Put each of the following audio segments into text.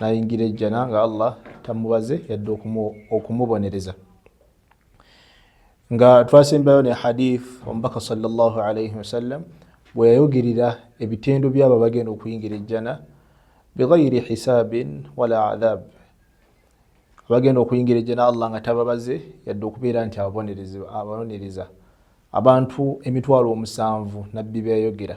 nayingira ejjana nga allah tamubaze yadde okumubonereza nga twasembayo ne hadith omubaka salllah alaihi wasallam bweyayogerera ebitendo byabo abagenda okuyingira ejjana bighairi hisabin wala adhab abagenda okuyingira ejjana allah nga tababaze yadde okubeera nti ababonereza abantu emitwalo omusanvu nabbi beyayogera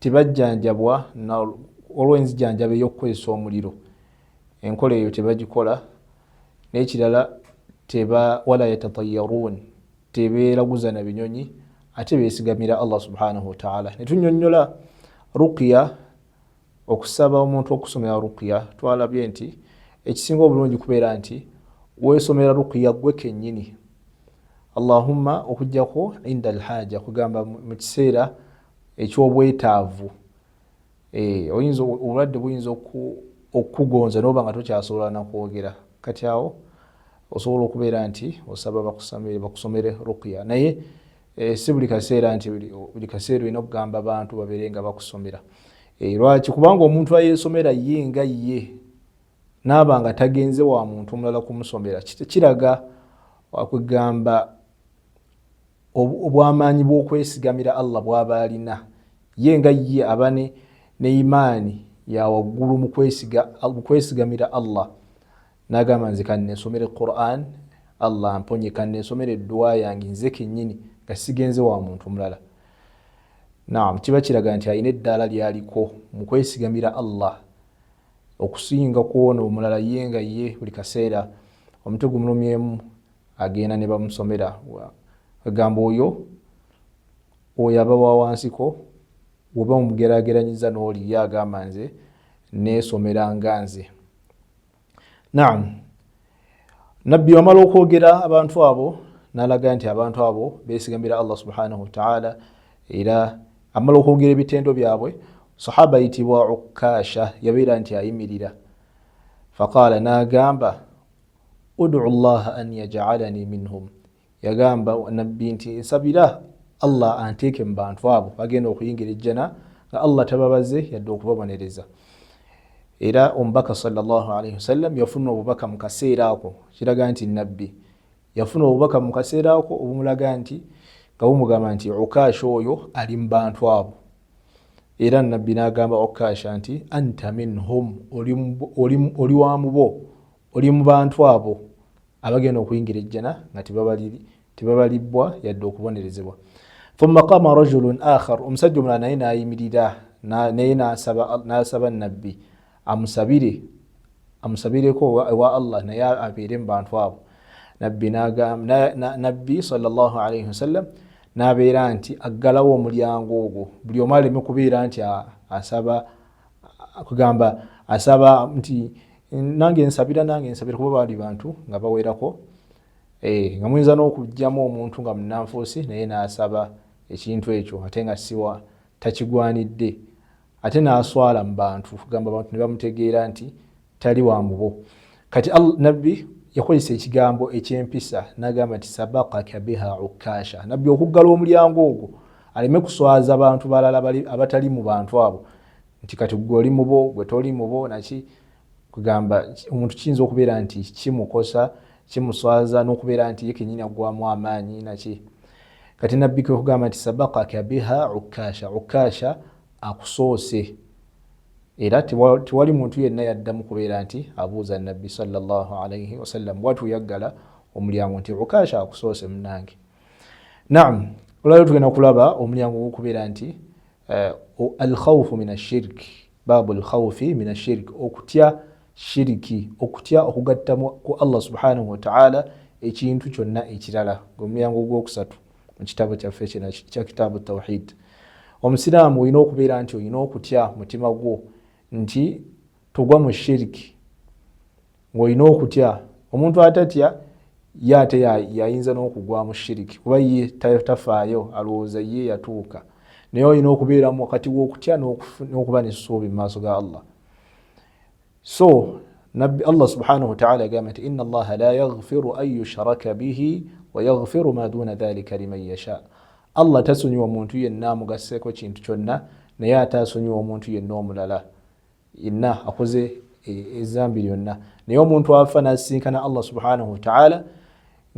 tebajjanjabwa olwo enzijanjaba ey'okukozesa omuliro enkola eyo tebagikola n'ekirala teba wala yatatayaruun tebeeraguza na binyonyi ate beesigamira allah subhanahu wataala ne tunyonnyola rukiya Okusaba omuntu okusomera ruqya twalabye nti ekisinga obulungi kubeera nti wesomera ruqya gwe kenyini allahumma okujjako inda alhaja kugamba mu kiseera ekyobwetaavu eh, oyinza obulwadde buyinza okukugonza noba nga tokyasobola nakwogera kati awo osobola okubeera nti osaba bakusomere ruqya naye Eh, si buli kaseera nti buli kaseera olina okugamba abantu babeere nga bakusomera eh, lwaki kubanga omuntu ayesomera ye nga ye naaba nga tagenze wa muntu omulala kumusomera kiraga wakwegamba obwamaanyi bwokwesigamira allah bwaba alina ye nga ye aba ne imaani yawaggulu mukwesigamira allah nagamba nze kanensomere quran allah mponye kanensomere eddwa yange nze kenyini nga sigenze wa muntu mulala naam kiba kiraga nti alina eddaala lyaliko mu kwesigamira allah okusinga kwona omulala ye nga ye buli kaseera omuti gumulumyemu agenda ne bamusomera agamba oyo oyo aba wa wansiko oba omugerageranyiza n'oli ye agamba nze neesomera nga nze Naam. Nabbi wamala okwogera abantu abo nalaga nti abantu abo besigamira Allah subhanahu wa ta'ala era amala okwogera ebitendo byabwe sahaba yitibwa Ukasha yabeera nti ayimirira faqala nagamba udu llaha an yaj'alani minhum yagamba nabbi nti nsabira allah anteeke mu bantu abo bagenda okuyingira ejjana nga allah tababaze yadde okubabonereza era omubaka salllahalaihi wasallam yafuna obubaka mu kaseera ako kiraga nti nabbi yafuna obubaka mu kaseera ako obumulaga nti nga bumugamba nti ukaasha oyo ali mu bantu abo era nabbi nagamba ukaasha nti anta minhum oli wa mubo oli mu bantu abo abagenda okuyingira ejjana nga tebabalibbwa yadde okubonerezebwa thumma qama rajulun akhar omusajja omulala naye nayimirira naye nasaba nabbi amusabire amusabireko ewa allah naye abeere mu bantu abo nabbi nabbi salllahu alaihi wasallam nabeera nti aggalawo omulyango ogwo buli omu aleme kubeera nti asaba kugamba asaba nti nange nsabira nange nsabira kuba baali bantu nga bawerako eh, nga muyinza n'okugyamu omuntu nga munanfuusi naye n'asaba ekintu ekyo ate nga siwa takigwanidde ate n'aswala mu bantu kugamba abantu ne bamutegeera nti tali wa mubo kati nabbi yakozesa ekigambo ekyempisa nagamba nti sabakaka biha ukasha nabbi okuggala omulyango ogwo aleme kuswaza bantu balala abatali mu bantu abo nti kati gwe oli mubo gwe toli mubo naki kugamba omuntu kiyinza okubeera nti kimukosa kimuswaza nokubeera nti ye kenyini agwamu amaanyi naki kati nabbi kwekugamba nti sabakaka biha ukasha ukasha akusoose era tewali muntu yenna yaddamu kubeera nti abuuza nabbi salllah alaihi wasallam watu yaggala omulyango nti ukasha akusoose munange naam olwaliro tugenda kulaba omulyango gwokubeera nti eh, alkhaufu min ashirik baabu alkhaufi min ashirik okutya shiriki okutya okugattamu ku allah subhanahu wataala ekintu kyonna ekirala gwe mulyango gwokusatu mu kitabo kyaffe kina kya kitaabu tawhid omusiraamu olina okubeera nti olina okutya mutima gwo nti togwa mu shiriki ngaolina okutya omuntu atatya ye ate yayinza n'okugwa mu shiriki kuba ye tafaayo alowooza ye yatuuka naye olina okubeeramu wakati w'okutya n'okuba nesuubi mu maaso ga allah so nabbi allah subhanahu wataala yagamba nti ina allaha la yaghfiru an yushraka bihi wayaghfiru ma duna dhalika liman yasha allah tasonyiwa omuntu yenna amugasseeko kintu kyonna naye ate asonyiwa omuntu yenna omulala yenna akoze ezambi e, lyonna naye omuntu afa nasisinkana allah subhanahu wataala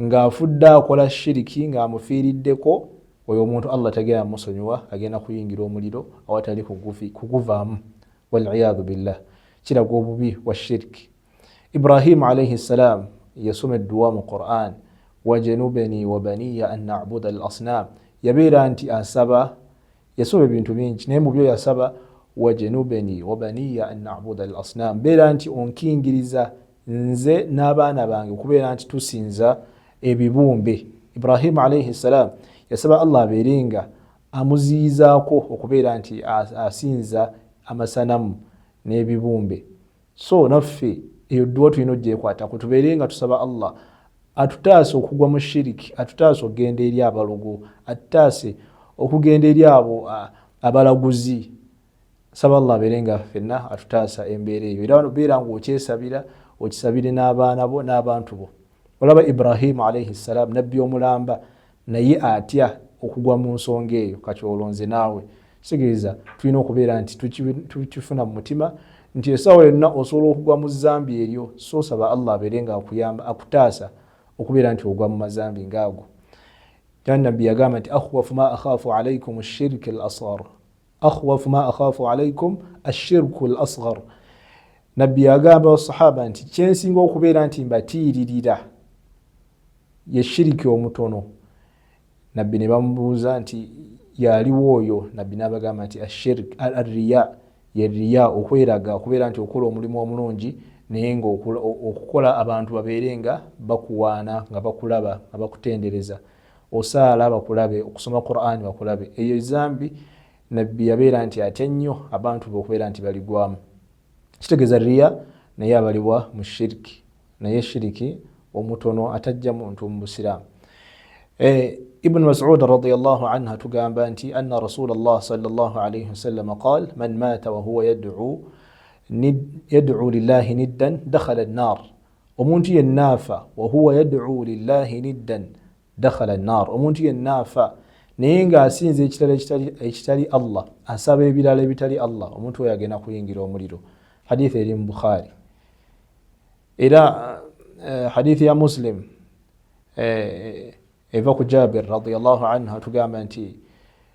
ng'afudde akola shiriki ng'amufiiriddeko oyo omuntu allah tagenda musonyiwa agenda kuyingira omuliro awatali kuguvaamu waliyadhu billah kiraga obubi wa shirki ibrahimu alaihi ssalaamu yasoma edduwa mu quran wajanubeni wabaniya an nabuda al asnam yabeera nti asaba yasoma ebintu bingi naye mubyo yasaba wajanubeni wabaniya an nabuda al asnam beera nti onkingiriza nze n'abaana bange okubeera nti tusinza ebibumbe ibrahimu alaihi ssalaamu yasaba allah abeere nga amuziyizaako okubeera nti asinza amasanamu n'ebibumbe so naffe eyo dduwa tulina ogyekwatako tubeere nga tusaba allah atutaase okugwa mu shiriki atutaase okugenda eri abalogo atutaase okugenda eri abo abalaguzi saba allah abeere nga fenna atutaasa embeera eyo era wano beera nga okyesabira okisabire n'abaana bo n'abantu bo olaba ibrahimu alaihi ssalaamu nabbi omulamba naye atya okugwa mu nsonga eyo kati olonze naawe kitegeeza tulina okubeera nti tukifuna mu mutima nti esaawa yonna osobola okugwa mu zambi eryo soosaba allah abeere nga akuyamba akutaasa okubeera nti ogwa mu mazambi ngaago nabbi yagamba nti akhwafu ma akhafu alaikum shirik al asar akhwafu ma akhafu alaikum ashirku l asghar nabbi yagamba basahaba nti kyensinga okubeera nti mbatiiririra ye shiriki omutono nabbi ne bamubuuza nti yaliwo oyo nabbi nabagamba nti ashirik arriya ye riya okweraga okubeera nti okola omulimu omulungi naye nga okukola abantu babeere nga bakuwaana nga bakulaba nga bakutendereza osaala bakulabe okusoma qurani bakulabe eyo zambi nabbi yabeera nti atya nnyo abantu be okubeera nti baligwamu kitegeeza riya naye abalibwa mu shiriki naye shiriki omutono atajja muntu mu busiraamu eh, ibn masud radiallah anhu atugamba nti anna rasul llah salllah alaihi wasalama qal man maata wahuwa yadcu lillahi niddan dakhala nnar omuntu yenna afa wahuwa yaduu lillahi niddan dakhala nnar omuntu yenna afa naye nga asinza ekitala ekitali allah asaba ebirala ebitali allah omuntu oyo agenda kuyingira omuliro haditha eri mu bukhari era eh, haditha ya muslim eh, eva ku jabir radiallahu anhu atugamba nti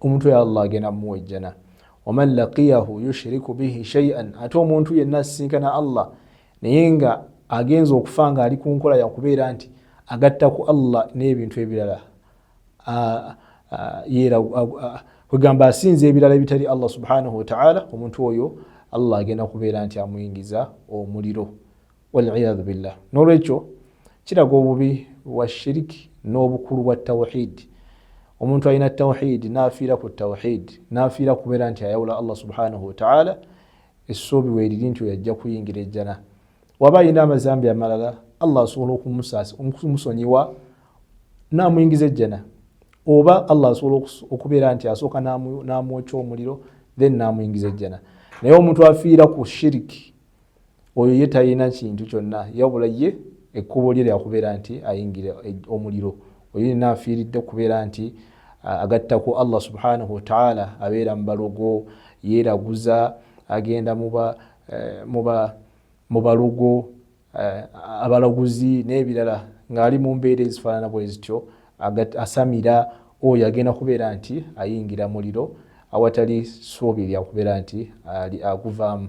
omuntu ya allah agenda muwa ejjana waman laqiyahu yushiriku bihi shaian ate omuntu yenna asisinkana allah naye nga agenza okufa nga ali ku nkola yakubeera nti agatta ku allah n'ebintu ebirala kwegamba asinza ebirala ebitali allah subhanahu wataala omuntu oyo allah agenda kubeera nti amuyingiza omuliro waliyadhu billah nolwekyo kiraga obubi bwa shiriki n'obukulu bwa tawhidi omuntu alina tawhidi nafiira ku tawhidi nafiira kubeera nti ayawula allah subhanahu wataala essuubi weriri nti oyajja kuyingira ejjana waba alina amazambi amalala allah asobola okumusonyiwa namuyingiza ejjana oba allah asobola okubeera nti asooka namwokya omuliro then namuyingiza ejjana naye omuntu afiira ku shiriki oyo ye talina kintu kyonna yabula ye ekkubo lye lyakubeera nti ayingira e, omuliro oyo yena afiiridde kubeera nti agattaku allah subhanahu wataala abeera mu balogo yeeraguza agenda muba eh, muba mu balogo eh, abalaguzi n'ebirala ng'ali mu mbeera ezifaanana bwe zityo asamira oyo agenda kubeera nti ayingira muliro awatali suubi lyakubeera nti aguvaamu